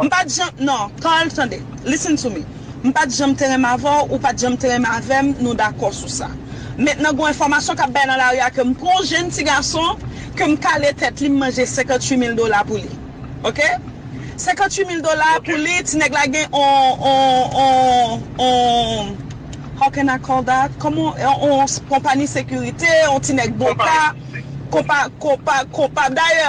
M pat janm non Carl tande listen to me m pat janm te renmen avè w ou pat janm te renmen avè m nou dakò sou sa mentnan gon enfòmasyon kap bay nan lari a ke m pran yon jenn ti gason ke m kale tèt li m manje 58 mil dola pou li ok 58 mil dola pou li ti nèg la gen on on on on how can i call that kòman on on konpani sekirite on ti nèg boka konpa konpa konpa dayè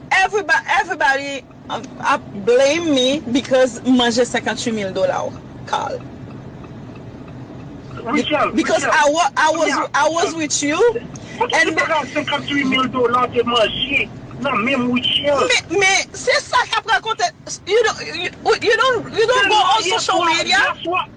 Everybody ap blame me because m manje 58 mil dola w Carl Rutshelle Because I was with you Kote ki bagay 58 mil dola w te manje nan menm Rutshelle Men se sa kap rakonte You don't go on social media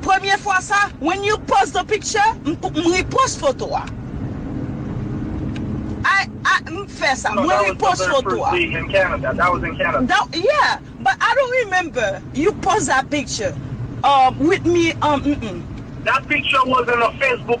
Premye fwa sa when you post the picture m repost foto a I I m fè sa mwen repost foto a That yeah but I don't remember you post that picture um with me um mm mm. That picture was in a Facebook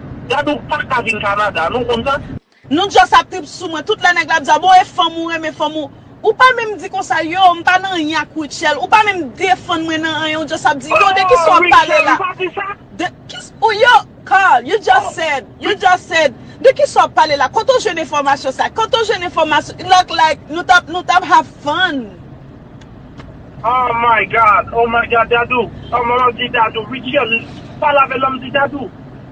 Dada ou paka vin Canada non ou konn sa. Nou just ap trip sou mwen tout lè nèg la ap di a bon e fanm ou renmen fanm ou ou pa menm di konsa yoo m pa nan anyen ak Rutshelle ou pa menm defann mwen nan anyen ou just ap di yoo de kisa wap pale la de kis ou yo Carl you just said you just said de kisa wap pale la kote ou jwenn enfòmasyon sa kote ou jwenn enfòmasyon look like nou tap nou tap have fun. Oh my God oh my God Dadou oh manmanm di Dadou Rutshelle pa lave lòm di Dadou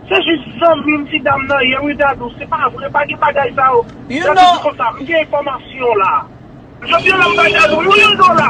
se jis zanmim ti dam nan ye wi Dadou se pa vre pa gen bagay sa yo Dadou di konsa m gen enfòmasyon la. Jodi a la m bay Dadou yon dola.